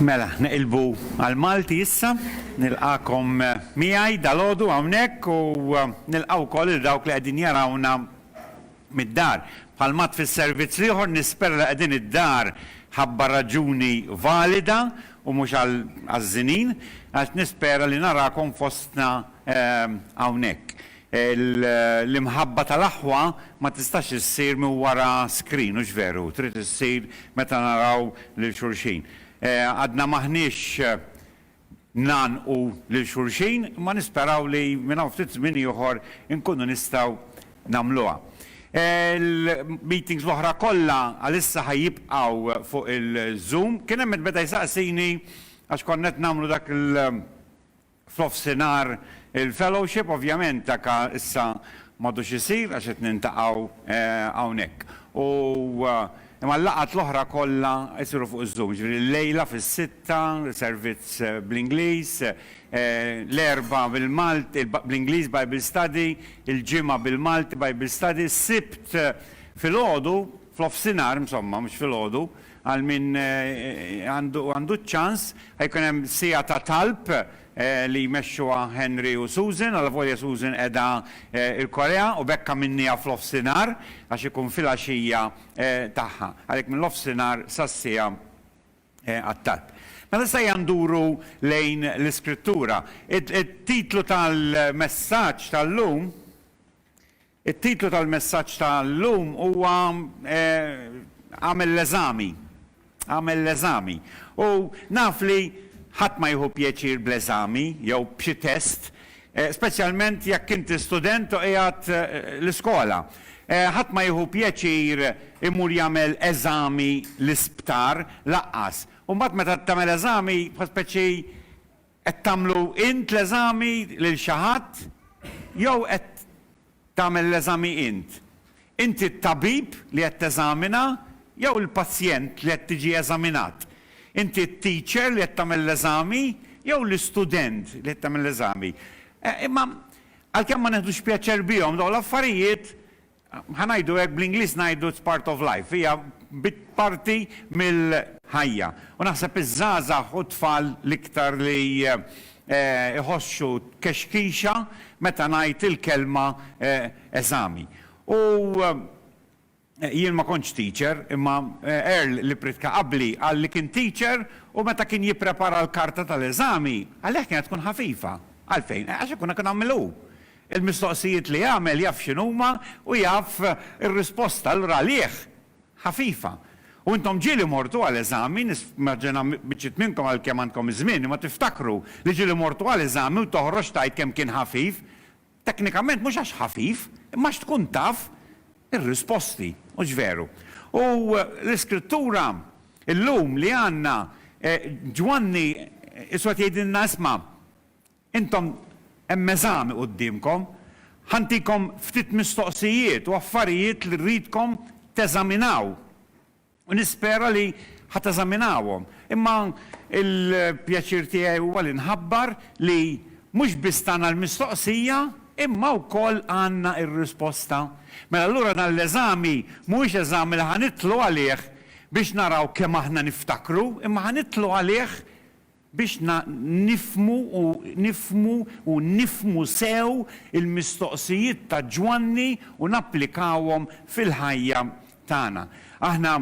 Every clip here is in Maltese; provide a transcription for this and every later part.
Mela, neqilbu għall-Malti issa. Nilqagħkom miegħi dalgħodu hawnhekk u nilqa' wkoll lil dawk li qegħdin jarawna mid-dar. Bħal m'għadd fis-servizz l-ieħor, nispera li qegħdin id-dar ħabba raġuni valida u mhux għal ħażżinin, għax nispera li narakom fostna hawnhekk. L-imħabba tal-aħwa ma tistax issir minn wara screen, hux veru? Trid issir meta naraw lil xulxin. Għadna m'aħniex ngħannqu lil xulxin, imma nisperaw li minn hawn ftit żmien ieħor inkunu nistgħu nagħmluha. Il-meetings l-oħra kollha għalissa ħa jibqgħu fuq il-Zoom. Kien hemm min beda jsaqsini għax konna qed nagħmlu dak il. F'nofsinhar il-fellowship ovvjament dak issa m'għadux isir għax qed nintaqgħu hawnhekk u imma l-laqgħat l-oħra kollha jsiru fuq iż-Zoom. Jiġifieri l-lejla fis-sitta servizz bl-Ingliż, l-Erbgħa bil-Malti, bl-Ingliż Bible Study, il-Ġimgħa bil-Malti Bible Study, s-Sibt filgħodu, F'nofsinhar, insomma, mhux filgħodu, għal min għandu ċ-ċans, ħa jkun hemm siegħa ta' talb li jmexxuha Henry u Susan, allavolja Susan qiegħda l-Korea u b'hekk għamilnieha f'nofsinhar għax ikun filgħaxija tagħha. Għalhekk min-nofsinhar sas-siegħa għat-talb. Mela issa ejja nduru lejn l-Iskrittura. It-titlu tal-messaġġ tal-lum It-titlu tal-messaġġ ta' llum huwa Agħmel l-eżami. Agħmel l-eżami. U naf li ħadd ma jieħu pjaċir bl-eżami jew b'xi test, speċjalment jekk inti student u qiegħed l-iskola. Ħadd ma jieħu pjaċir imur jagħmel eżami l-isptar, lanqas. U mbagħad meta tagħmel eżami, bħal speċi Qed tagħmlu int l-eżami lil xi ħadd jew qed tagħmel l-eżami int? Inti t-tabib li qed teżamina jew il-pazjent li qed tiġi eżaminat? Inti t-teacher li qed tagħmel l-eżami jew l-istudent li qed tagħmel l-eżami? Imma għalkemm ma neħdux pjaċer bihom dawn l-affarijiet, Ħa ngħidu hekk, bl-Ingliż ngħidu it's part of life, hija parti mill-ħajja. U naħseb iż-żgħażagħ u t-tfal l-iktar li jħossu kexkixa meta ngħid il-kelma eżami. U jien ma kontx teacher, imma Earl li pritka qabli qal li kien teacher u meta kien jipprepara l-karta tal-eżami, għalih kienet tkun ħafifa. Għalfejn? Għax ikun ikun għamilha hu. Il-mistoqsijiet li għamel jaf x'inhuma u jaf ir-risposta allura għalih ħafifa. U intom ġieli mortu għal eżami, nismaġina biċċiet minnkom għalkemm għandkom iż-żmien, imma tiftakru li ġieli mortu għal eżami u toħroġ tgħid kemm kien ħafif, teknikament mhux għax ħafif, imma għax tkun taf ir-risposti, hux veru? U l-iskrittura llum li għandna Ġwanni isu qed jgħidilna isma' Intom hemm eżami quddiemkom. Ħa ntikom ftit mistoqsijiet u affarijiet li rridkom teżaminaw u nispera li ħa teżaminawhom. Imma l-pjaċir tiegħi huwa li nħabbar li mhux biss tana l-mistoqsija imma wkoll għandna r-risposta. Mela allura dan l-eżami mhuwiex eżami li ħa nidħlu għalih biex naraw kemm aħna niftakru imma ħa nidħlu għalih biex nifhmu u nifhmu u nifhmu sew il-mistoqsijiet ta' Ġwanni u napplikawhom fil-ħajja tagħna. Aħna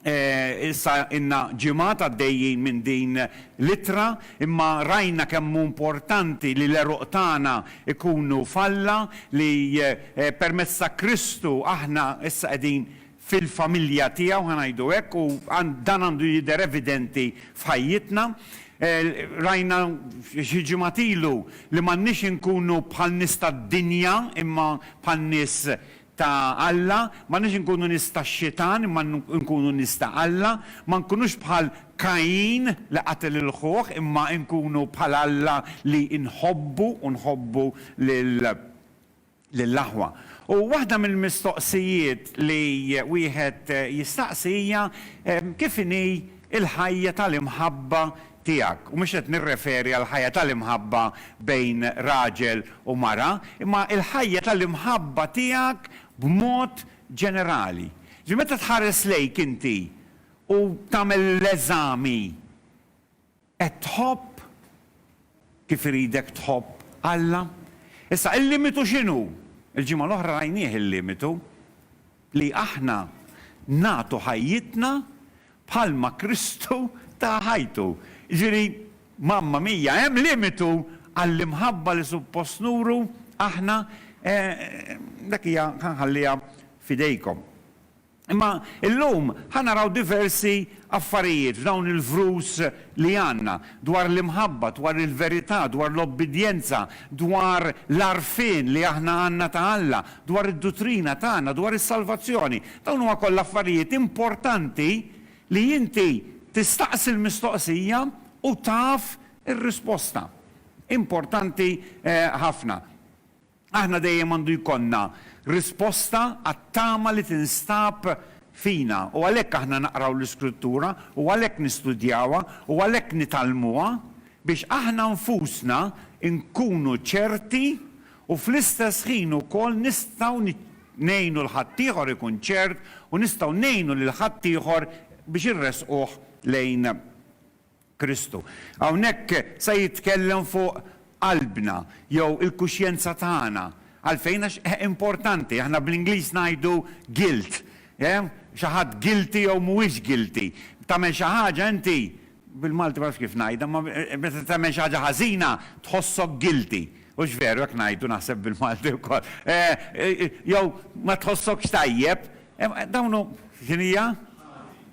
issa ilna ġimgħat għaddejjin minn din l-ittra, imma rajna kemm hu importanti li l-għeruq tagħna jkunu f'Alla, li permezz ta' Kristu aħna issa qegħdin fil-familja tiegħu, ħa ngħidu hekk, u dan għandu jidher evidenti f'ħajjitna. Rajna xi ġimgħat ilu li m'għandniex inkunu bħal nies tad-dinja imma bħal nies ta' Alla, m'għandniex inkunu nies tax-xitan imma nkunu nies ta' Alla, ma nkunux bħal Kajin li qatel lil ħuh imma nkunu bħal Alla li nħobbu u nħobbu lil lill-aħwa. U waħda mill-mistoqsijiet li wieħed jistaqsi hija kif inhi l-ħajja tal-imħabba tiegħek. U mhux qed nirreferi għall-ħajja tal-imħabba bejn raġel u mara, imma l-ħajja tal-imħabba tiegħek b'mod ġenerali. Ġifieri meta tħares lejk inti u tagħmel l-eżami Qed tħobb kif iridek tħobb Alla? Issa, il-limitu x'inhu? Il-ġimgħa l-oħra rajnieh il-limitu, li aħna nagħtu ħajjitna bħalma Kristu ta ħajtu. Jiġifieri, mamma mia, hemm limitu għall-imħabba li suppost nuru aħna? Dak hija nħalliha f'idejkom. Imma illum ħa naraw diversi affarijiet f'dawn il-vrus li għandna, dwar l-imħabba, dwar il-verità, dwar l-obbidjenza, dwar l-għarfien li aħna għandna ta' Alla, dwar id-duttrina tagħna, dwar is-salvazzjoni. Dawn huma kollha affarijiet importanti li inti tistaqsi l-mistoqsija u taf ir-risposta. Importanti ħafna. Aħna dejjem għandu jkollna risposta għat-tama li tinstab fina u għalhekk aħna naqraw l-Iskrittura u għalhekk nistudjawha u għalhekk nitgħallmuha biex aħna nfusna nkunu ċerti u fl-istess ħin ukoll nistgħu ngħinu 'l ħaddieħor ikun ċert u nistgħu ngħinu lil ħaddieħor biex irressquh lejn Kristu. Hawnhekk se jitkellem fuq qalbna jew il-kuxjenza tagħna. Għalfejn? Għax hi importanti. Aħna bl-Ingliż ngħidu guilt. Xi ħadd guilty jew mhuwiex guilty. Tagħmel xi ħaġa inti, bil-Malti ma nafx kif ngħidha, imma meta tagħmel xi ħaġa ħażina tħossok guilty. Hux veru hekk ngħidu naħseb bil-Malti wkoll? Jew ma tħossokx tajjeb, Dawn hu, x'inhi hija?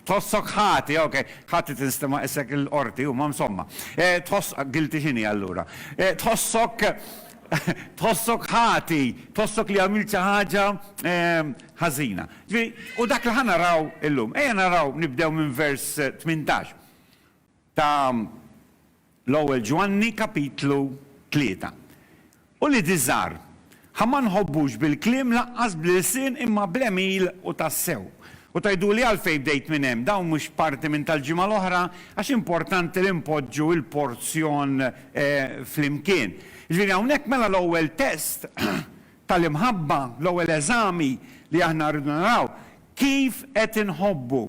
Tħossok ħati, ok. Ħati tinsta ma isek il-qorti huma msomma. Tħoss, guilty x'inhi allura? Tħossok tħossok ħati, tħossok li għamilt xi ħaġa ħażina. Ġifieri, u dak li ħa naraw illum. Ejja naraw nibdew minn vers 18. ta' l-Ewwel Ġwanni kapitlu tlieta. Uliedi żgħar, ħa ma nħobbux bil-kliem lanqas bl-ilsien imma bl-għemil u tassew. U tgħiduli għalfejn bdejt minn hemm, dawn mhux parti minn tal-ġimgħa l-oħra? Għax importanti li npoġġu l-porzjon flimkien. Jiġifieri hawnhekk mela l-ewwel test ta' l-imħabba, l-ewwel eżami li aħna rridu naraw, kif qed inħobbu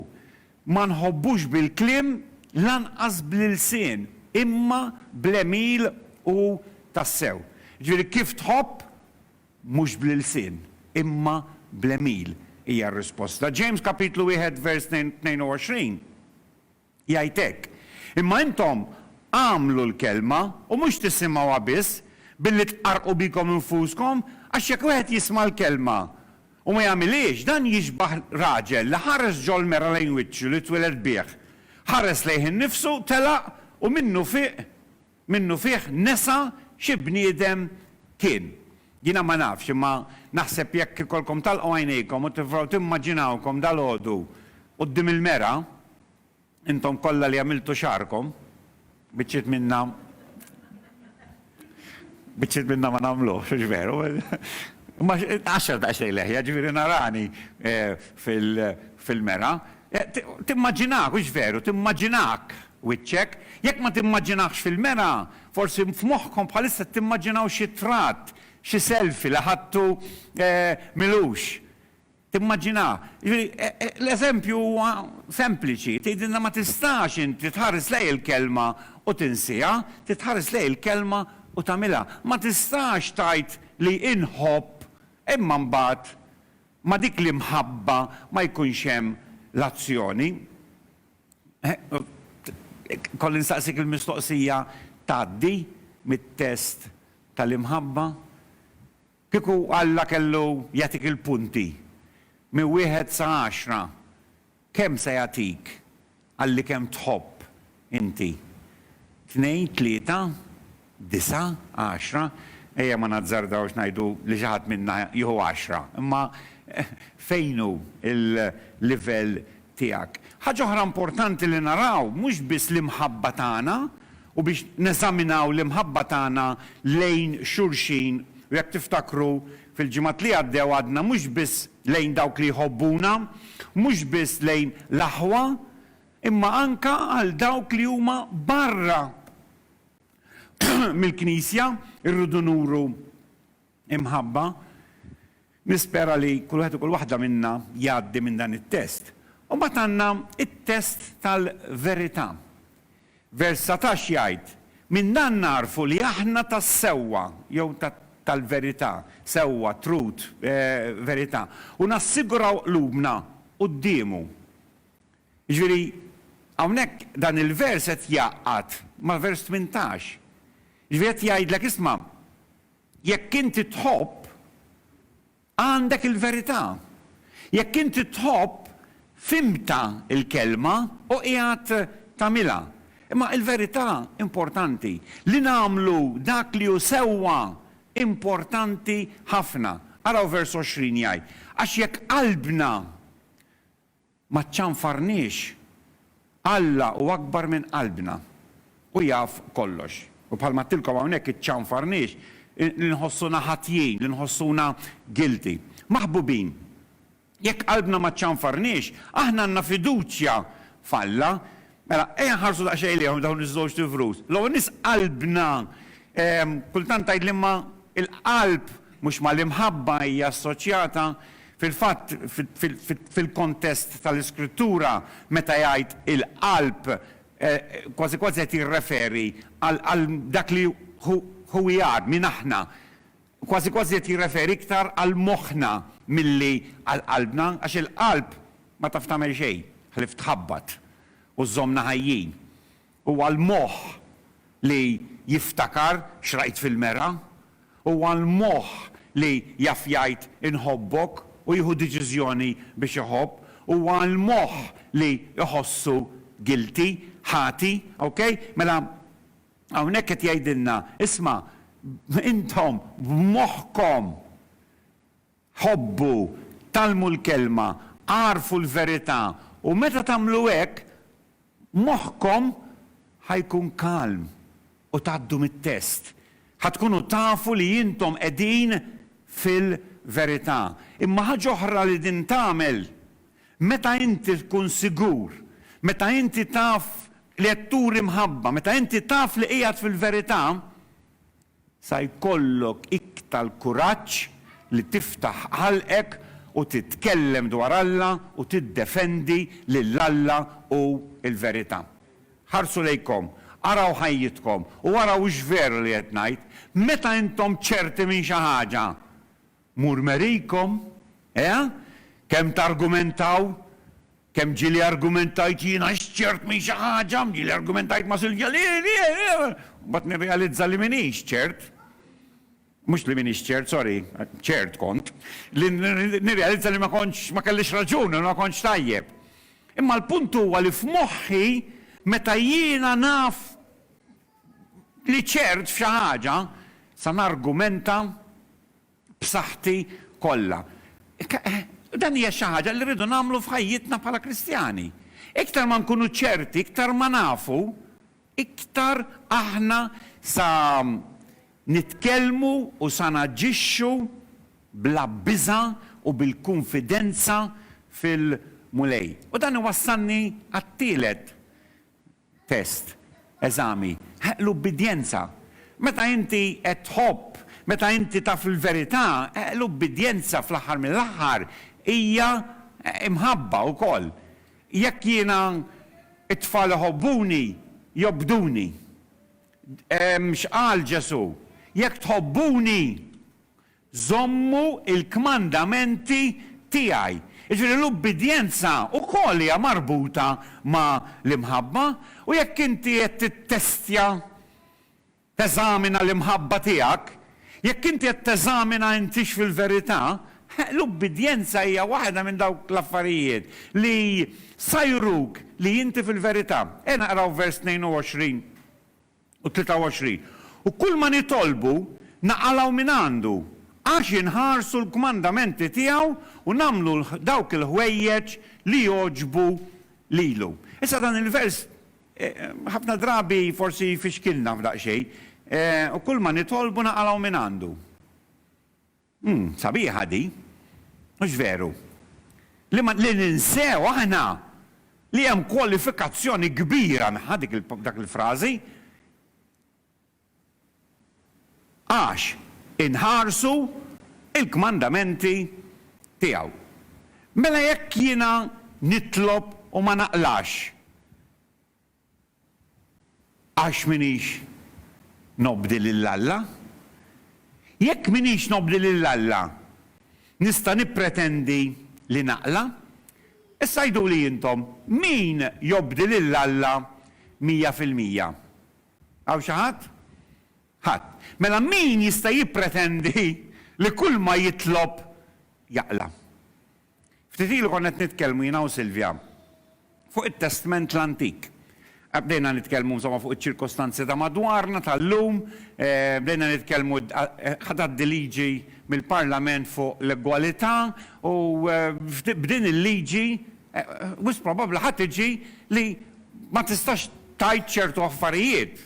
Ma nħobbux bil-kliem lanqas bl-ilsien, imma bl-għemil u tassew. Jiġifieri kif tħobb, mhux bl-ilsien, imma bl-għemil, hija r-risposta. Ġejms kapitlu wieħed vers 22 jgħid hekk, Imma intom agħmlu l-kelma, u mhux tisimgħuha biss, billi tqarrqu bikom infuskom, għax jekk wieħed jisma' l-kelma U ma jagħmilhiex, dan jixbah raġel li ħares ġol-mera lejn wiċċu li twieled bih, ħares lejh innifsu, telaq, u minnu fih, minnu fih nesa xi bniedem kien. Jiena ma nafx, imma naħseb jekk ikollkom tagħlqu għajnejkom u tipprovaw timmaġinawkom dalgħodu quddiem il-mera, Intom kollha li għamiltu xagħarkom, biċċiet minna biċċiet minna ma nagħmluhx, hux veru? Imma għaxar daqsxejn leħja, ġifieri narani fil-mera. Timmaġinak, hux veru, timmaġinak wiċċek. Jekk ma timmaġinahx fil-mera, forsi f'moħħkom bħalissa timmaġinaw xi tratt, xi selfie li ħadtu milux. Timmaġinaha. Jiġifieri, l-eżempju huwa sempliċi, tgħidilna ma tistax inti tħares lejn il-Kelma u tinsiha, trid tħares lejn il-Kelma u tagħmilha. Ma tistax tgħid li inħobb imma mbagħad ma' dik l-imħabba ma jkunx hemm l-azzjoni. Kolli nsaqsik il-mistoqsija, tgħaddi mit-test tal-imħabba? Kieku Alla kellu jagħtik il-punti minn wieħed sa għaxra, kemm se jagħtik għal li kemm tħobb inti? Tnejn, tlieta, disgħa, għaxra? Ejja ma nazzardawx ngħidu li xi ħadd minna jieħu għaxra, imma fejn hu l-livell tiegħek. Ħaġa oħra importanti li naraw mhux biss l-imħabba tagħna u biex neżaminaw l-imħabba tagħna lejn xulxin u jekk tiftakru fil-ġimgħat li għaddew għadna mhux biss lejn dawk li jħobbuna, mhux biss lejn l-aħwa imma anke għal dawk li huma barra mill-Knisja rridu nuru Imħabba, nispera li kull wieħed u kull waħda minna jgħaddi minn dan it-test. U mbagħad għandna t-test tal-verità. Vers satax jgħid, Minn dan nagħrfu li aħna tas-sewwa, jew tal-verità, sewwa, truth, verità, u nassiguraw qlubna quddiemu. Jiġifieri, hawnhekk dan il-vers qed jgħaqqad ma' vers tmintax. Jiġifieri qed jgħidlek, isma', Jekk inti tħobb, għandek il-verità. Jekk inti tħobb, fhimtha l-Kelma u qiegħed tagħmilha. Imma il-verità importanti. Li nagħmlu dak li hu sewwa importanti ħafna. Araw vers 20 jgħid, Għax jekk qalbna Ma ċċanfarniex. Alla hu akbar minn qalbna. Hu jaf kollox. U bħalma għedtilkom hawnhekk iċċanfarniex li nħossuna ħatjin, li nħossuna guilty. Maħbubin, jekk qalbna ma ċċanfarniex, aħna għandna fiduċja f'Alla Mela, ejja nħarsu daqsxejn lejhom dawn iż-żewġt ivrus. L-ewwel nies qalbna, kultant tgħid li ma' l-qalb mhux ma' l-imħabba hija assoċjata. Fil-fatt, fil-kontest tal-Iskrittura, meta jgħid il-qalb, kważi kważi qed jirreferi għal dak li hu, who we are, min aħna. Kważi kważi qed jirreferi iktar għal moħħna milli għal qalbna, għax il-qalb ma taf tagħmel xejn ħlief tħabbat u żżommna ħajjin. Huwa l-moħħ li jiftakar x'rajt fil-mergħa. Huwa l-moħħ li jaf jgħid inħobbok u jieħu deċiżjoni biex iħobb. Huwa l-moħħ li jħossu guilty, ħati. Ok? Mela, Hawnhekk qed jgħidilna, isma', intom b'moħħkom ħobbu, tgħallmu l-Kelma, agħrfu l-verità, u meta tagħmlu hekk, moħħkom ħa jkun kalm u tgħaddu mit-test. Ħa tkunu tafu li intom qegħdin fil-verità. Imma ħaġa oħra li din tagħmel, Meta inti tkun sigur, meta inti taf li qed turi mħabba, meta inti taf li qiegħed fil-verità, sa jkollok iktar kuraġġ li tiftaħ ħalqek u titkellem dwar Alla u tiddefendi lil Alla u l-verità. Ħarsu lejkom, araw ħajjitkom u araw hux veru li qed ngħid, meta intom ċerti minn xi ħaġa, Murmerikom, eh? Kemm targumentaw? Kemm ġieli argumentajt jien għax ċert minn xi ħaġa, ġieli argumentajt ma' Silvja li hi, li hi, u mbagħad nirrealizza li m'iniex ċert. Mhux li m'iniex ċert, sorry, ċert kont. Li nirrealizza li ma kontx, ma kellix raġun u li ma kontx tajjeb. Imma l-punt huwa li f'moħħi meta jiena naf li ċert f'xi ħaġa, sa nargumenta b'saħħti kollha. Dan hija xi ħaġa li rridu nagħmlu f'ħajjitna bħala Kristjani. Iktar ma nkunu ċerti, iktar ma nafu, iktar aħna sa nitkellmu u sa naġixxu bla biża' u bil-kunfidenza fil-Mulej. U dan iwassalni għat-tielet Test, Eżami, Ħ, L-ubbidjenza. Meta inti qed tħobb, meta inti taf il-verità, Ħ, l-ubbidjenza fl-aħħar mill-aħħar hija mħabba wkoll. Jekk jiena, it-tfal iħobbuni, jobduni. X'qal Ġesù? Jekk tħobbuni, żommu l-kmandamenti tiegħi. Jiġifieri l-ubbidjenza wkoll hija marbuta ma' l-imħabba, u jekk inti qed tittestja, teżamina l-imħabba tiegħek, jekk inti qed teżamina intix fil-verità, eh, l-ubbidjenza hija waħda minn dawk l-affarijiet li sa juruk li inti fil-verità. Ejja naqraw vers 22 u 23 U kulma nitolbu, naqalgħu mingħandu, għax inħarsu l-kmandamenti tiegħu u nagħmlu dawk il-ħwejjeġ li jogħġbu lilu. Issa dan il-vers ħafna drabi forsi jfixkilna f'daqsxejn, U kulma nitolbu, naqalgħu mingħandu. Umm, sabiħa di, hux veru? Li ma, li ninsew aħna li hemm kwalifikazzjoni kbira mħa dik il, dak il-frażi. Għax inħarsu il-kmandamenti tiegħu. Mela jekk jiena nitlob u ma naqlax, Għax m'iniex nobdi lil Alla? Jekk m'iniex nobdi lil Alla, nista' nippretendi li naqla? Issa għiduli intom, min jobdi lil Alla mija fil-mija? Hawn xi ħadd? Ħadd. Mela min jista' jippretendi li kulma jitlob jaqla? Ftit ilu konna qed nitkellmu jiena u Silvia fuq it-Testment l-Antik. Bdejna nitkellmu insomma fuq iċ-ċirkostanzi ta' madwarna tal-lum, bdejna nitkellmu ħa tgħaddi liġi mill-Parlament fuq l-egwalità u b'din il-liġi wisq probabbli ħa tiġi li ma tistax tgħid ċertu affarijiet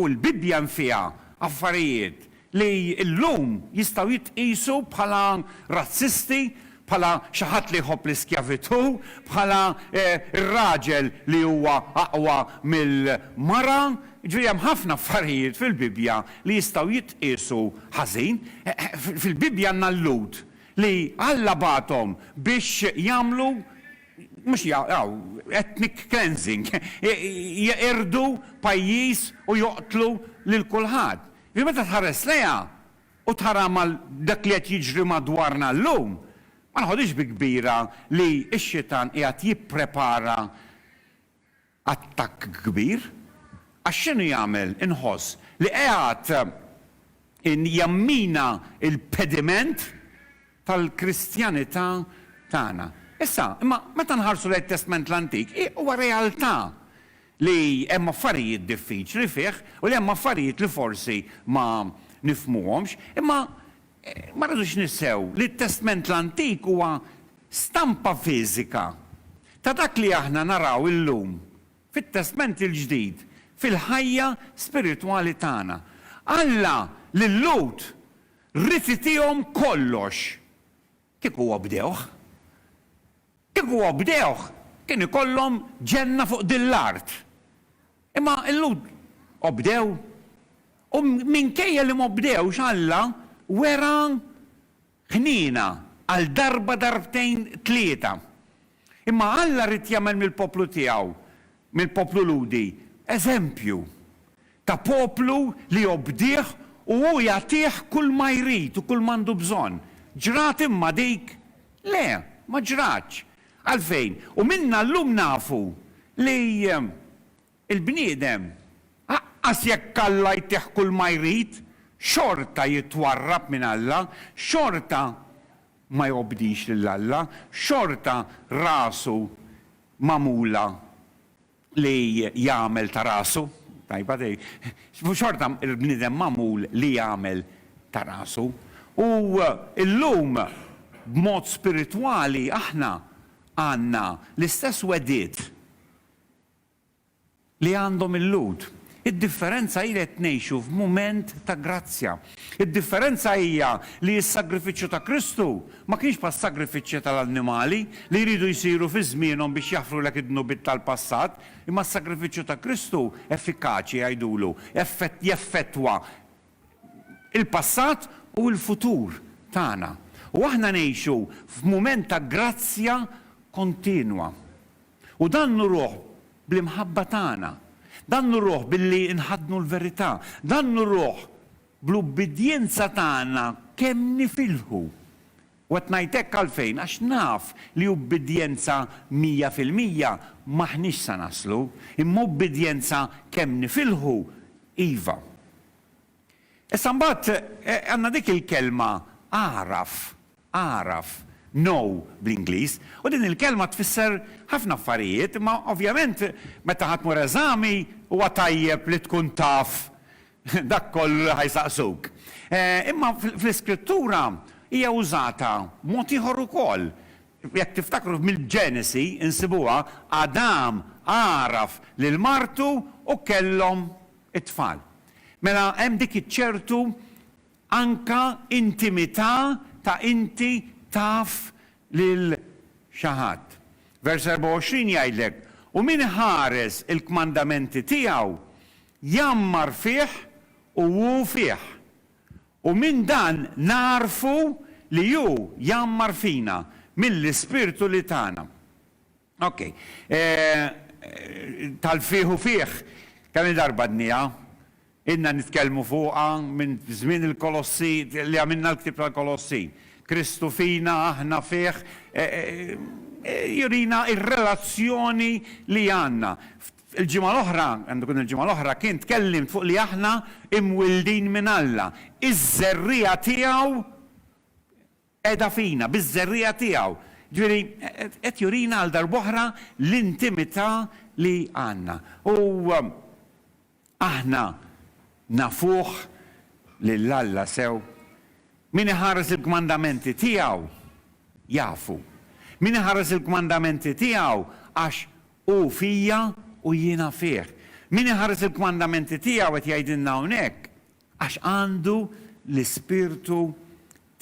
u l-Bibbja hemm fiha affarijiet li llum jistgħu jitqiesu bħala razzisti, bħala xi ħadd li jħobb l-iskjavitù, bħala r-raġel li huwa aqwa mill-mara, jiġifieri hemm ħafna affarijiet fil-Bibbja li jistgħu jitqiesu ħażin. Fil-Bibbja għandna l-Lhud li Alla bagħathom biex jagħmlu, mhux jagħmlu, ethnic cleansing, jeqirdu pajjiż u joqtlu lil kulħadd. Li meta tħares lejha u tara mal dak li qed jiġri madwarna llum, ma noħodhiex bi kbira li x-Xitan qiegħed jipprepara attakk kbir. Għax x'inhu jagħmel, inħoss, li qiegħed jammina l-pediment tal-Kristjanità tagħna. Issa, imma, meta nħarsu lejn it-Testment l-Antik, hi huwa realtà li hemm affarijiet diffiċli fih u li hemm affarijiet li forsi ma nifhmuhomx. Imma ma rridux ninsew li t-Testment l-Antik huwa stampa fiżika ta' dak li aħna naraw illum fit-Testment il-Ġdid fil-ħajja spiritwali tagħna. Alla lil Lhud Rifjutihom kollox. Kieku obdewh. Kieku obdewh, kien ikollhom ġenna fuq din l-art. Imma l-Lhud obdew. U minkejja li m'obdewx, Alla wera ħniena għal darba, darbtejn, tlieta. Imma Alla ried jagħmel mill-poplu tiegħu, mill-poplu Lhudi, eżempju ta' poplu li jobdih u hu jagħtih kulma jrid u kulma għandu bżonn. Ġrat imma dik? Le, ma ġratx. Għalfejn? U minna llum nafu li Il-bniedem, aqqas jekk Alla jtih kulma jrid, xorta jitwarrab minn Alla, xorta ma jobdix lil Alla, xorta rasu magħmula li jagħmel ta' rasu, tajba di, xorta l-bniedem magħmul li jagħmel ta' rasu. U llum, b'mod spiritwali, aħna għandna l-istess wegħdiet li għandhom il-Lhud. Id-differenza hi li qed ngħixu f'mument ta' grazzja. Id-differenza hija li s-sagrifiċċju ta' Kristu ma kienx bħas-sagrifiċċji tal-annimali li jridu jsiru fi żmienhom biex jaħfrulek id-dnubiet tal-passat, imma s-sagrifiċċju ta' Kristu effikaċi jgħidulu, jeffettwa l-passat u l-futur tagħna. U aħna ngħixu f'mument ta' grazzja kontinwa. U dan nuruh bl-imħabba tagħna. Dan nuruh billi nħaddnu l-verità. Dan nuruh bl-ubbidjenza tagħna kemm nifilħu. U qed ngħid hekk għalfejn? Għax naf li ubbidjenza mija fil-mija m'aħniex sa naslu, imma ubbidjenza kemm nifilħu, iva. Issa mbagħad għandna dik il-kelma agħraf, Agħraf, know bl-Ingliż, u din il-kelma tfisser ħafna affarijiet, imma ovvjament meta ħa tmur eżami huwa tajjeb li tkun taf dak kollu li ħa jsaqsuk. Imma fl-Iskrittura hija użata b'mod ieħor ukoll. Jekk tiftakru mill-Ġenesi nsibuha, Adam għaraf lil martu u kellhom it-tfal. Mela hemm dik iċ-ċertu Anke intimità ta' inti taf lil xi ħadd. Vers 24 jgħidlek, U min iħares il-kmandamenti tiegħu, jgħammar fih u hu fih. U minn dan nagħrfu li hu jgħammar fina, mill-Ispirtu li tana. Ok. Tal-fih u fih, kemm-il darba dniha, ilna nitkellmu fuqha minn żmien il-Kolossi, li għamilna l-ktieb tal-Kolossi. Kristu fina, aħna fih, jurina r-relazzjoni li għandna. Il-ġimgħa l-oħra, għandu jkun il-ġimgħa l-oħra kien, tkellimt fuq li aħna imwildin minn Alla, iż-żerriegħa tiegħu Qiegħda fina, biż-żerriegħa tiegħu. Ġifieri, qed jurina għal darb'oħra l-intimità li għandna. U aħna nafuh lil Alla sew. Min iħares il-kmandamenti tiegħu jafu. Min iħares il-kmandamenti tiegħu għax hu fija u jiena fih. Min iħares il-kmandamenti tiegħu, qed jgħidilna hawnhekk, Għax għandu l-Ispirtu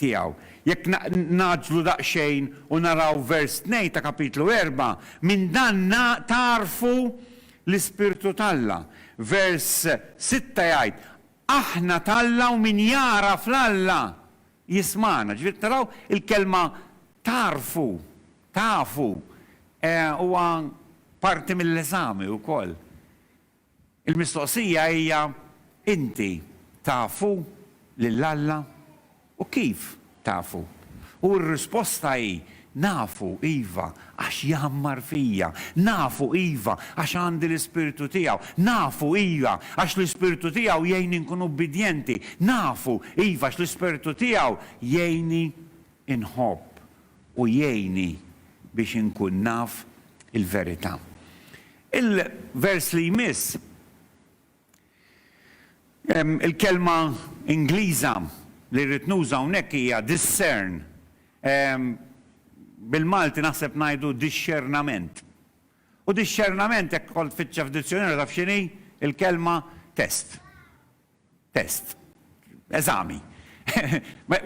tiegħu. Jekk ngħaġġlu daqsxejn u naraw vers tnejn ta' Kapitlu erbgħa, minn dan tagħrfu l-Ispirtu t'Alla. Vers sitta jgħid, Aħna t'Alla u min jagħraf 'l Alla jismagħna. Ġifieri qed taraw il-kelma tagħrfu, tafu, huwa parti mill-eżami wkoll. Il-mistoqsija hija, Inti tafu lil Alla? U kif tafu? U r-risposta hi, Nafu, iva, għax jgħammar fija. Nafu, iva, għax għandi l-Ispirtu tiegħu. Nafu, iva, għax l-Ispirtu tiegħu jgħinni nkun ubbidjenti. Nafu, iva, għax l-Ispirtu tiegħu jgħinni nħobb u jgħinni biex inkun naf il-verità. Il-vers li jmiss, il-kelma Ingliża li rrid nuża hawnhekk hija discern. Bil-Malti naħseb ngħidu dixxernament. U dixxernament jekk kont tfittxha f'dizzjunarju taf x'inhi? Il-kelma test. Test. Eżami.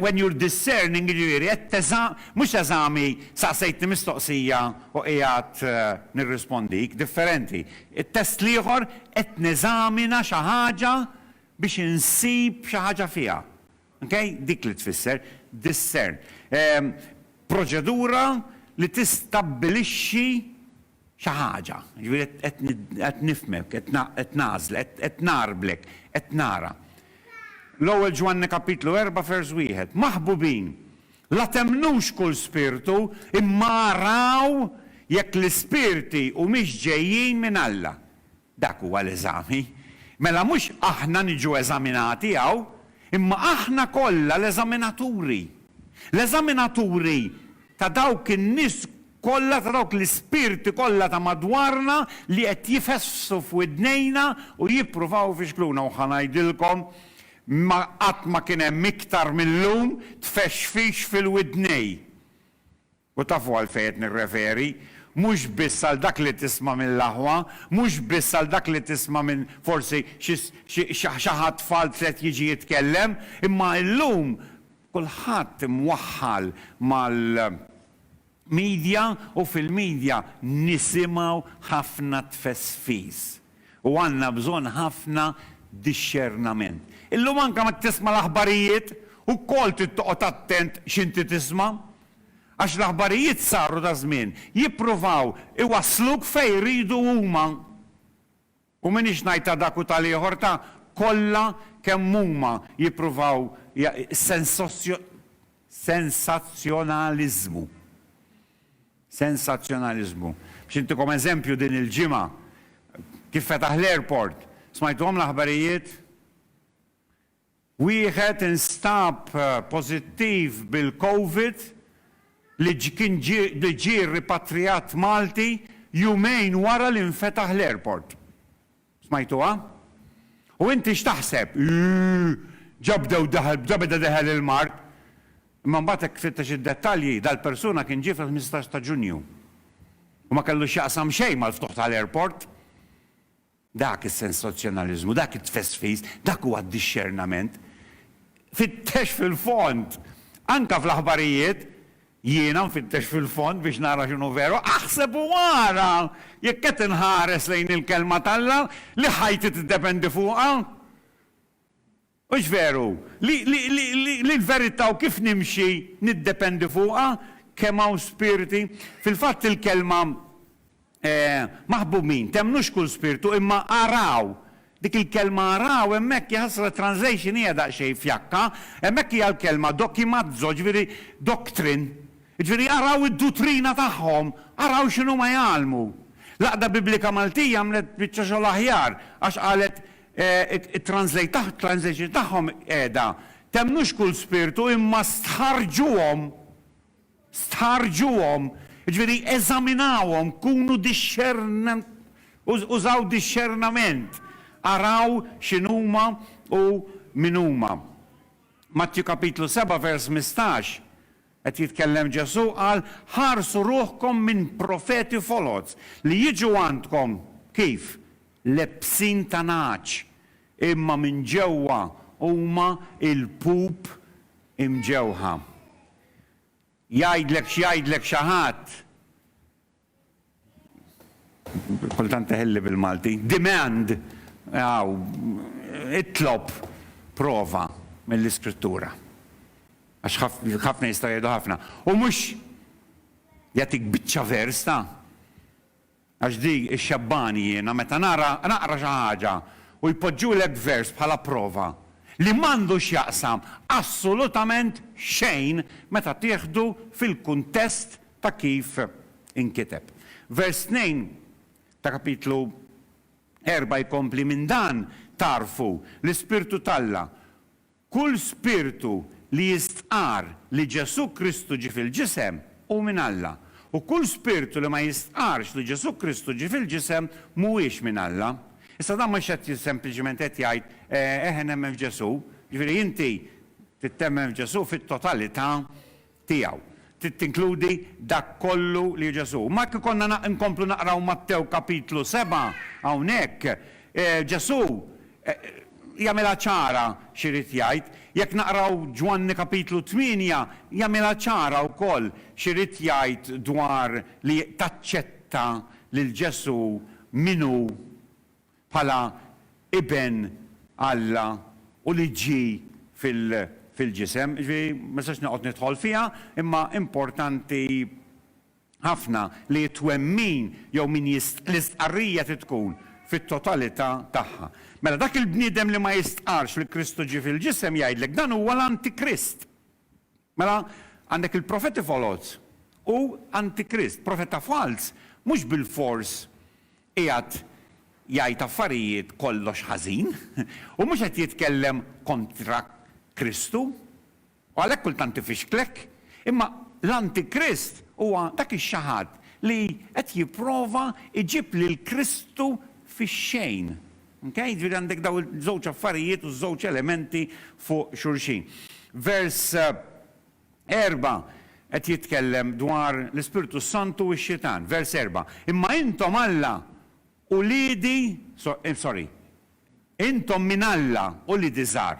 When you're discerning, jiġifieri qed teża, mhux eżami saqsejtni mistoqsija u qiegħed nirrispondik, differenti. It-test l-ieħor qed neżamina xi ħaġa biex insib xi ħaġa fiha. Ok? Dik li tfisser discern. Proċedura li tistabbilixxi xi ħaġa, jiġifieri qed qed nifhmek, qed qed nagħżlek, qed ngħarblek, qed nara. L-Ewwel Ġwanni kapitlu erba' vers wieħed, Maħbubin, la temmnux kull spirtu, imma araw jekk l-ispirti humiex ġejjin minn Alla. Dak huwa l-eżami. Mela mhux aħna niġu eżaminati hawn, imma aħna kollha l-eżaminaturi. L-eżaminaturi ta' dawk in-nies kollha, ta' dawk l-ispirti kollha ta' madwarna li qed jifessu f'widnejna u jippruvaw ifixkluna. U ħa ngħidilkom, ma qatt ma kien hemm iktar mil-lum tfexfix fil-widnejn. U tafu għalfejn qed nirreferi? Mhux biss għal dak li tisma' mill-aħwa, mhux biss għal dak li tisma' minn forsi xi xi ħadd f'alt li qed jiġi jitkellem, imma llum kulħadd imwaħħal mal media u fil-media nisimgħu ħafna tfesfis. U għandna bżonn ħafna dixxernament. Illum anke meta tisma' l-aħbarijiet, ukoll trid toqgħod attent x'inti tisma'. Għax l-aħbarijiet saru daż-żmien jippruvaw iwassluk fejn iridu huma. U m'iniex ngħid ta' dak u tal-ieħor ta' kollha kemm huma jippruvaw sensazzjonaliżmu. Sensazzjonaliżmu. Biex intikom eżempju din il-ġimgħa kif fetaħ l-airport, smajtuhom l-aħbarijiet? Wieħed instab pożittiv bil-Covid li kien li ġie ripatrijat Malti jumejn wara li nfetaħ l-airport. Smajtuha? U inti x'taħseb? Iiih! Ġa bdew daħal, ġa beda deħel il-mard! Imma mbagħad jekk tfittex id-dettalji, dal-persuna kien ġie fil-ħmistax ta' Ġunju. U ma kellu x'jaqsam xejn mal-ftuħ tal-airport. Dak is-sensazzjonaliżmu, dak it-tfesfis, dak huwa d-dixxernament. Fittex fil-fond! Anke fl-aħbarijiet, jiena nfittex fil-fond biex nara x'inhu veru. Aħseb u ara! Jekk qed inħares lejn il-Kelma t'Alla, li ħajti tiddependi fuqha! Hux veru li, li, li, li, li l-verità u kif nimxi niddependi fuqha? Kemm hawn spirti? Fil-fatt il-kelma, eh, maħbumin, temmnux kull spirtu, imma araw. Dik il-kelma araw hemmhekk, jaħasra t-translation hija daqsxejn fjakka, hemmhekk hija l-kelma dokimazzo, ġifieri doctrine. Ġifieri araw id-dutrina tagħhom, araw x'inhuma jgħallmu. L-Għaqda Biblika Maltija għamlet biċċa xogħol aħjar għax qalet It-translator tagħhom qiegħda, Temmnux kull spirtu imma stħarrġuhom, stħarrġuhom, jiġifieri eżaminawhom, kunu użaw dixxernament, araw x'inhuma u min huma. Mattju kapitlu seba' vers mistax, Qed jitkellem Ġesù, qal, Ħarsu ruħkom minn profeti foloz, li jiġu għandkom, kif? lebsin ta' nagħaġ, imma minn ġewwa huma lpup imġewħa. Jgħidlek x'jgħidlek xi ħadd, Kultant teħilli bil-Malti. Demand, aw, itlob prova mill-Iskrittura. Għax ħafna jistgħu jgħidu ħafna. U mhux jagħtik biċċa vers ta'. Għax di xxebbani jiena meta nara naqra xi ħaġa u jpoġġulek vers bħala prova li m'għandu x'jaqsam assolutament xejn meta tieħdu fil-kuntest ta' kif inkiteb. Vers 2 ta' Kapitlu erbgħa jkompli, Minn dan tagħrfu l-ispirtu t'Alla, kull spirtu li jistqarr li Ġesù Kristu ġie fil-ġisem hu minn Alla, u kull spirtu li ma jistqarrx li Ġesù Kristu ġie fil-ġisem mhuwiex minn Alla. Issa dan mhux qed sempliċement qed jgħid, Eħe nemmen f'Ġesù, jiġifieri inti trid temmen f'Ġesù fit-totalità tiegħu. Trid tinkludi dak kollu li Ġesù. Imma jekk ikollna nkomplu naqraw Mattew Kapitlu sebgħa hawnhekk, Ġesù jagħmilha ċara x'irid jgħid. Jekk naqraw Ġwanni Kapitlu tmienja jagħmilha ċara wkoll x'irid jgħid dwar li taċċetta lil Ġesù min hu bħala Iben Alla u li ġie fil-ġisem. Jiġifieri ma nistax noqgħod nidħol fiha, imma importanti ħafna li t-twemmin jew min l-istqarrija trid tkun fit-totalità tagħha. Mela dak il-bniedem li ma jistqarrx li Kristu ġie fil-ġisem jgħidlek dan huwa l-antikrist. Mela, għandek il-profeti foloz u antikrist. Profeta falz mhux bilfors qiegħed jgħid affarijiet kollox ħażin u mhux qed jitkellem kontra Kristu, u għalhekk kultant ifixklek. Imma l-antikrist huwa dak ix-xaħat li qed jipprova jġib lil Kristu fix-xejn, Mkej, jiġifieri għandek dawn iż-żewġ affarijiet u ż-żewġ elementi fuq xulxin. Vers erba' qed jitkellem dwar l-Ispirtu s-Santu u x-Xitan. Vers erba', Imma intom Alla, uliedi, sorry, intom minn Alla, uliedi żgħar,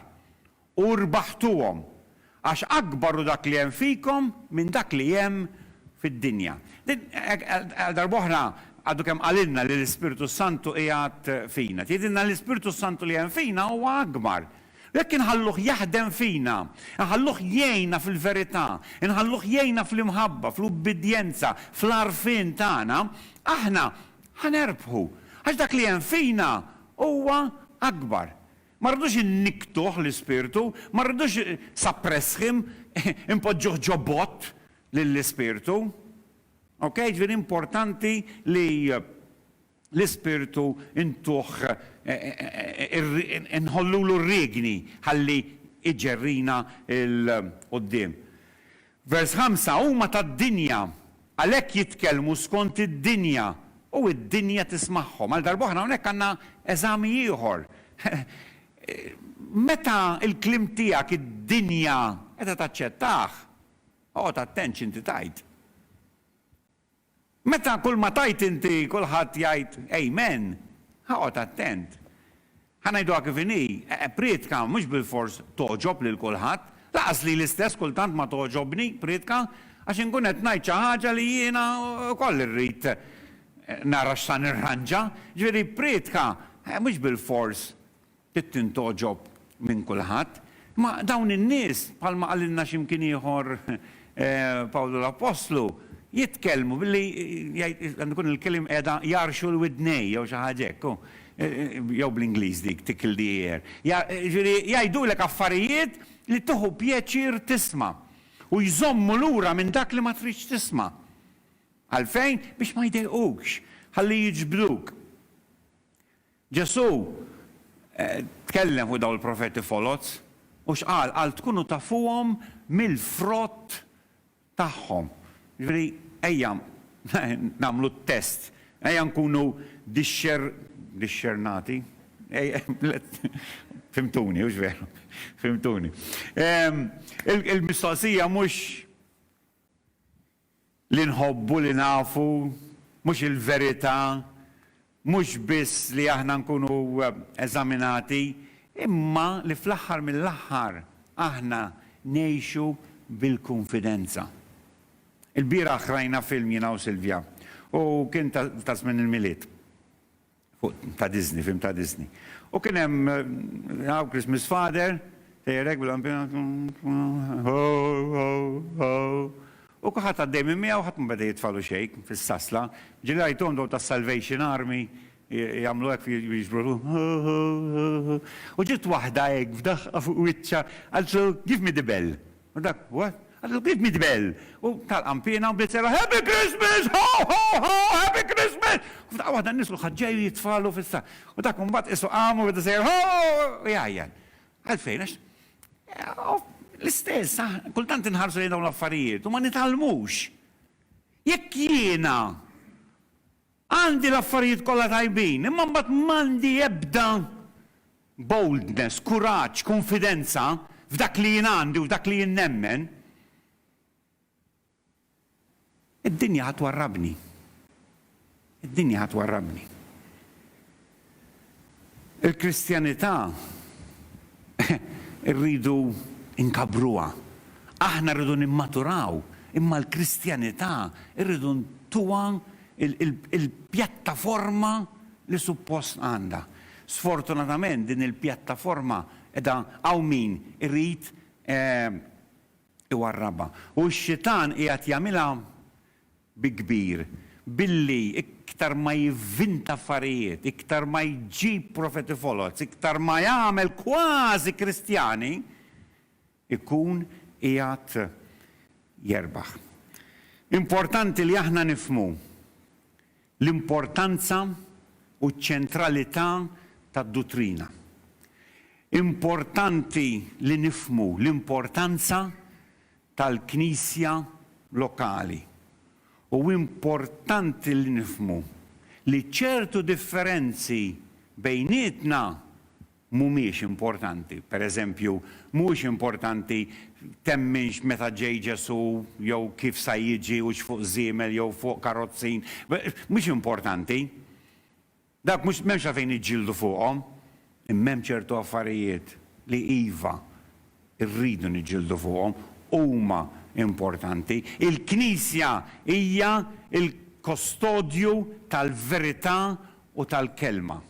U rbaħtuhom, għax akbar hu dak li hemm fikom minn dak li hemm fid-dinja. Din, għal darba oħra, għadu kemm qalilna li l-Ispirtu s-Santu qiegħed fina. Tgħidilna li l-Ispirtu s-Santu li hemm fina huwa akbar. U jekk inħalluh jaħdem fina, inħalluh jgħinna fil-verità, inħalluh jgħinna fl-imħabba, fl-ubbidjenza, fl-għarfien tagħna, aħna ħa nerbħu, għax dak li hemm fina huwa akbar. Ma rridux innikktuh l-Ispirtu, ma rridux suppress'him, inpoġġuh ġo bott lill-Ispirtu. Ok, ġifieri importanti li l-Ispirtu ntuh inħollulu r-riegni ħalli iġerrina 'l quddiem. Vers 5, Huma tad-dinja, għalhekk jitkellmu skont id-dinja, u d-dinja tismagħhom. Għal darb'oħra hawnhekk għandna eżami ieħor. Meta l-kliem tiegħek id-dinja qiegħda taċċettah, oqgħod attent x'inti tgħid. Meta kull ma tgħid inti kulħadd jgħid Amen, oqgħod attent. Ħa ngħiduha kif inhi, prietka mhux bilfors togħġob lil kulħadd. Lanqas lili stess kultant ma togħġobni prietka għax inkun qed ngħid xi ħaġa li jiena wkoll irrid nara x'sa nirranġa. Ġifieri prietka mhux bilfors Trid tintgħoġob minn kulħadd. Imma dawn in-nies, bħalma qalilna xi mkien ieħor Pawlu l-Appostlu, jitkellmu billi jgħid, għandu jkun il-kliem qiegħda, jgħarrxu l-widnejn jew xi ħaġa hekk, hu, jew bl-Ingliż dik, tickle the ear. Jiġifieri jgħidulek affarijiet li tieħu pjaċir tisma', u jżommu lura minn dak li ma tridx tisma'. Għalfejn? Biex ma jdejqukx, ħalli jiġbduk. Ġesù tkellem fuq dawn il-profeti foloz, u x'qal? Qal tkunu tafuhom mill-frott tagħhom. Jiġifieri ejja nagħmlu t-test, ejja nkunu dixxer, dixxernati? Fhimtuni, hux veru? Fhimtuni. Il-mistoqsija mhux Li nħobbu li nafu mhux il-verità, mhux biss li aħna nkunu eżaminati, imma li fl-aħħar mill-aħħar aħna ngħixu bil-kunfidenza. Ilbieraħ rajna film jiena u Silvia u kien ta' żmien il-Milied. Fuq ta' Disney, film ta' Disney. U kien hemm How Christmas Father, tejjerek bil-lampina, ho, ho, ho. U kulħadd għaddej minn miegħu, ħadd ma beda jitfagħlu xejn fis-sasla. Ġieli rajthom dawn tas-Salvation Army jagħmlu hekk jiġbru ruħhom, ho, ho, ho, ho. U ġiet waħda hekk f'daħqa fuq wiċċha qaltlu, Give me the bell. U dak, what? Għadu kif midbel! U talqam piena u bdiet serraħ, Happy Christmas! Ho, ho, ho! Happy Christmas! U f'daqqa waħda n-nies kulħadd ġej u jitfagħlu fis-saqf. U dak imbagħad qisu qam u beda sejjer, ho, ho, ho! u jgħajjat. Għalfejn? Għax hu l-istess, aħna kultant inħarsu lejn dawn l-affarijiet u ma nitgħallmux. Jekk jiena Għandi l-affarijiet kollha tajbin, imma mbagħad m'għandi ebda boldness, kuraġġ, kunfidenza f'dak li jien għandi u f'dak li jien nemmen, id-dinja ħa twarrabni. Id-dinja ħa twarrabni. Il-Kristjanità rridu nkabbruha. Aħna rridu nimmaturaw, imma l-Kristjanità rridu ntuha l-pjattaforma li suppost għandha. Sfortunatament din il-pjattaforma qiegħda hawn min irid iwarrabha. U x-Xitan qiegħed jagħmilha bi kbir, billi iktar ma jivvinta affarijiet, iktar ma jġib profeti foloz, iktar ma jagħmel kważi Kristjani, ikun qiegħed jerbaħ. Importanti li aħna nifhmu l-importanza u ċ-ċentralità tad-duttrina. Importanti li nifhmu l-importanza tal-Knisja lokali. U importanti li nifhmu li ċertu differenzi bejnietna mhumiex importanti. Per eżempju, mhuwiex importanti temminx meta ġej Ġesù jew kif sa jiġi hux fuq żiemel jew fuq karozzin. Mhux importanti. Dak mhux m'hemmx għalfejn niġġieldu fuqhom. Imma hemm ċertu affarijiet li iva, irridu niġġieldu fuqhom, huma importanti. Il-Knisja hija l-kostodju tal-verità u tal-Kelma.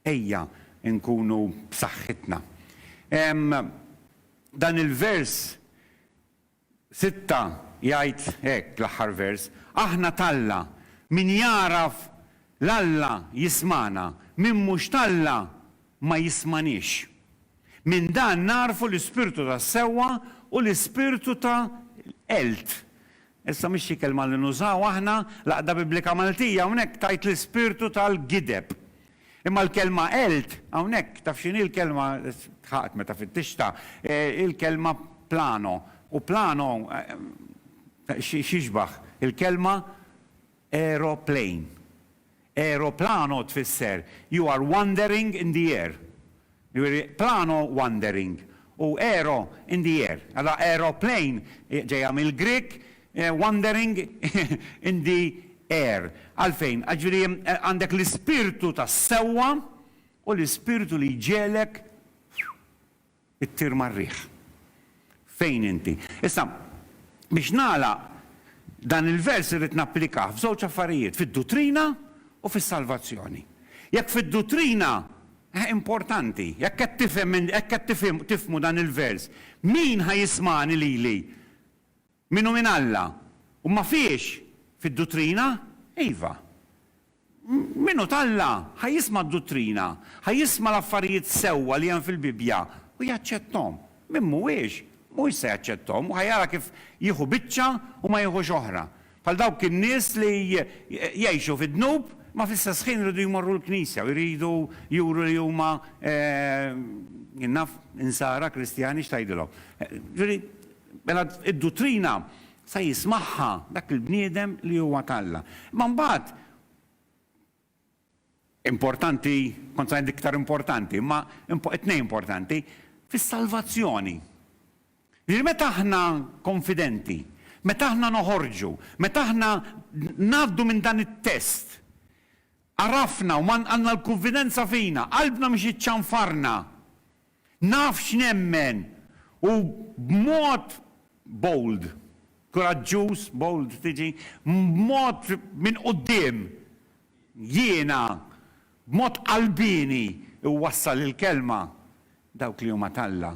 Ejja nkunu b'saħħitna. Hemm dan il-vers Sitta, jgħid hekk l-aħħar vers, Aħna t'Alla, min jagħraf 'l Alla jismagħna, min mhux t'Alla ma jismaniex. Minn dan nagħrfu l-ispirtu tas-sewwa u l-ispirtu ta' l-qeld. Issa mhix xi kelma li nużaw aħna, l-Għaqda Biblika Maltija hawnhekk tgħid l-ispirtu tal-gideb. Imma l-kelma elt hawnhekk, taf x'inhi l-kelma, tħaqt meta fittixtha, hi l-kelma plano, u plano x'jixbah? Il-kelma aeroplane. Aeroplano tfisser you are wandering in the air. Jiġifieri plano wandering u aero in the air. Allura aeroplane ġejja mill-Grieg, wandering in the air. Għalfejn? Għax jiġifieri għandek l-ispirtu tas-sewwa u l-ispirtu li jġegħlek ittir mar-riħ. Fejn inti? Issa, biex nagħlaq, dan il-vers irrid napplikah f'żewġ affarijiet, fid-duttrina u fis-salvazzjoni. Jekk fid-duttrina, eh, importanti, jekk qed tifhem, hekk qed tifhmu dan il-vers, Min ħa jismagħni lili? Min hu minn Alla? Huma fiex? Fid-duttrina? Iva. Min hu t'Alla ħa jisma' d-duttrina, ħa jisma' l-affarijiet sewwa li hemm fil-Bibbja u jaċċetthom. Min mhuwiex, mhuwiex se jaċċetthom u ħa jara kif jieħu biċċa u ma jieħux oħra. Bħal dawk in-nies li jgħixu fid-dnub imma fl-istess ħin iridu jmorru l-knisja u jridu juru li huma, jien naf Insara Kristjani x'tgħidilhom. Ġifieri, Mela d-duttrina se jismagħha dak il-bniedem li huwa t'Alla. Imma mbagħad, importanti, kont se ngħid l-iktar importanti, imma it-tnejn importanti, fis-salvazzjoni. Jiġifieri meta aħna konfidenti, meta aħna noħorġu, meta aħna ngħaddu minn dan it-test, Għarafna u għandna l-kunfidenza fina, qalbna mhix iċċanfarna. Naf x'nemmen u b'mod bold, kuraġġuż, bold tiġi, b'mod minn quddiem, jiena, b'mod qalbieni iwassal il-Kelma, dawk li huma t'Alla.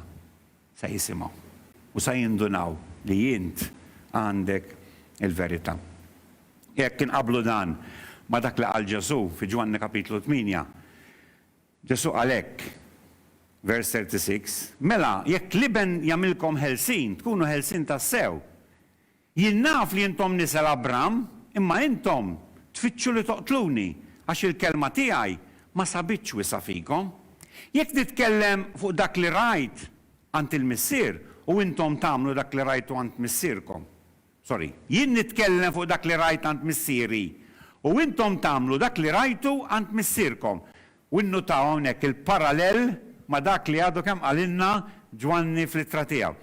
Sa jisimgħu u sa jindunaw li int għandek il-verità. Jekk inqabblu dan ma' dak li qal Ġesù fi Ġwanni Kapitlu tmienja, Ġesù qal hekk, vers 36, Mela, jekk l-Iben jagħmilkom ħelsien, tkunu ħelsien tassew, Jien naf li intom nisel Abram, imma intom tfittxu li toqtluni, għax il-kelma tiegħi ma sabitx wiesgħa fikom. Jekk nitkellem fuq dak li rajt għand il-Missier u intom tagħmlu dak li rajtu għand missierkom. Sorry, jien nitkellem fuq dak li rajt għand Missieri u intom tagħmlu dak li rajtu għand missierkom. U nnutaw hawnhekk il-parallel ma' dak li għadu kemm qalilna Ġwanni fl-ittra tiegħu.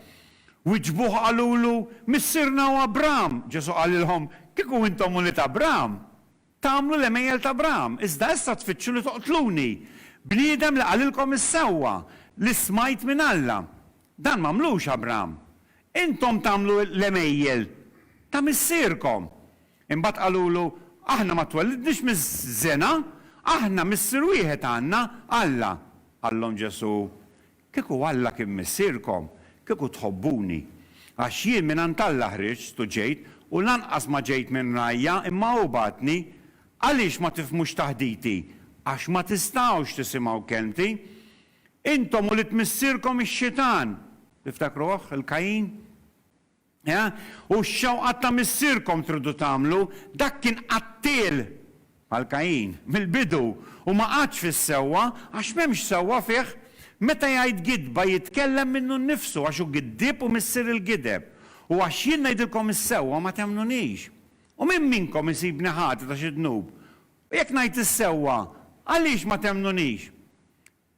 Wiġbuh u qalulu, Missierna hu Abraham! Ġesù qalilhom, Kieku intom ulied Abraham, tagħmlu l-għemejjel ta' Abraham, iżda issa tfittxu li toqtluni, bniedem li qalilkom is-sewwa li smajt minn Alla. Dan m'għamlux Abram. Intom tagħmlu l-għemejjel ta' missierkom. Imbagħad qalulu, Aħna ma twellidniex miż-żena, aħna Missier wieħed għandna, Alla. Qallhom Ġesù, Kieku Alla kien Missierkom, kieku tħobbuni. Għax jien mingħand Alla ħriġt u ġejt u lanqas ma ġejt minn rajja, imma hu bagħatni. Għaliex ma tifhmux taħditi? Għax ma tistgħux tisimgħu kelmti. Intom u lid missierkom ix-Xitan, tiftakruh, il-Kajin? Ea? U x-xewqat ta' missierkom tridu tagħmlu, dak kien qattiel, bħal Kajin, mill-bidu, u ma qagħadx fis-sewwa, għax m'hemmx sewwa fih. Meta jgħid gidba jitkellem minnu nnifsu, għax hu giddieb u missier il-gideb. U għax jien ngħidilkom is-sewwa ma temmnunix. U min minnkom isibni ħati ta' xi dnub, U jekk ngħid is-sewwa, għaliex ma temmnunix?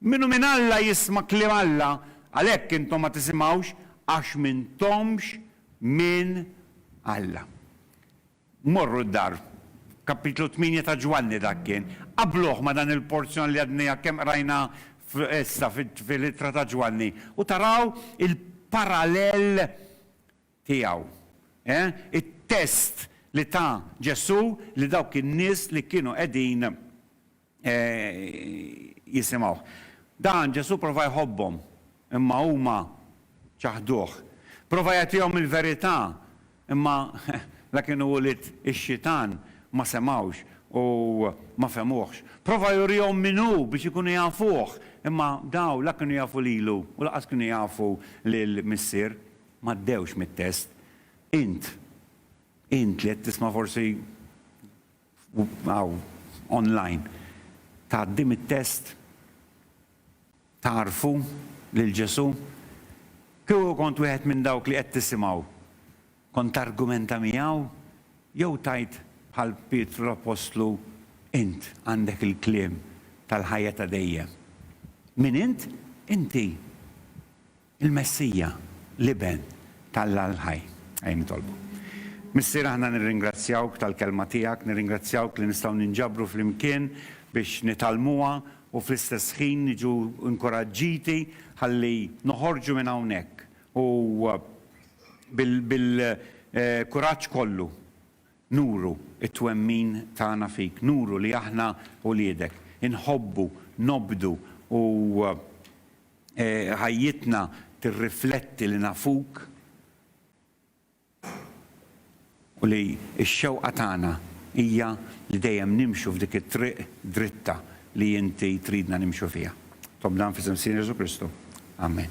Min hu minn Alla jisma' kliem Alla, għalhekk intom ma tisimgħux, għax m'intomx minn Alla. Morru d-dar. Kapitlu tmienja ta' Ġwanni dak kien. Qabbluh ma' dan il-porzjon li għadnejja kemm qrajna issa fil-ittra ta' Ġwanni u taraw il-parallel tiegħu. Eh? It-test li ta Ġesù li dawk in-nies li kienu qegħdin jisimgħuh. Dan Ġesù prova jħobbhom, imma huma ċaħduh. Prova jagħtihom il-verità, imma la kienu ulied ix-xitan ma semgħux u ma fehmuhx. Prova jurihom min hu biex ikunu jafuh, imma dawn la kienu jafu lilu u lanqas kienu jafu lill-Missier. m'għaddewx mit-test. Int, int li qed tisma' forsi hawn online, tgħaddi mit-test? Tagħrfu lil Ġesù? Kieku kont wieħed minn dawk li qed tisimgħu, kont targumenta miegħu jew tgħid bħal Pietru l-appostlu, Int għandek il-kliem tal-ħajja ta' dejjem. Min int? Inti. Il-Messija, l-Iben t'Alla l-ħaj. Ejja nitolbu. Missier aħna nirringrazzjawk tal-Kelma tiegħek, nirringrazzjawk li nistgħu ninġabru flimkien biex nitgħallmuha u fl-istess ħin niġu inkuraġġiti ħalli noħorġu minn hawnhekk u bil-kuraġġ kollu nuru t-twemmin tagħna fik, nuru li aħna uliedek, inħobbu, nobdu u Ħajjitna tirrifletti li nafuk u li x-xewqa tagħna hija li dejjem nimxu f'dik it-triq dritta li inti tridna nimxu fiha. Nitlob dan f'isem Sir Ġesù Kristu. Amen.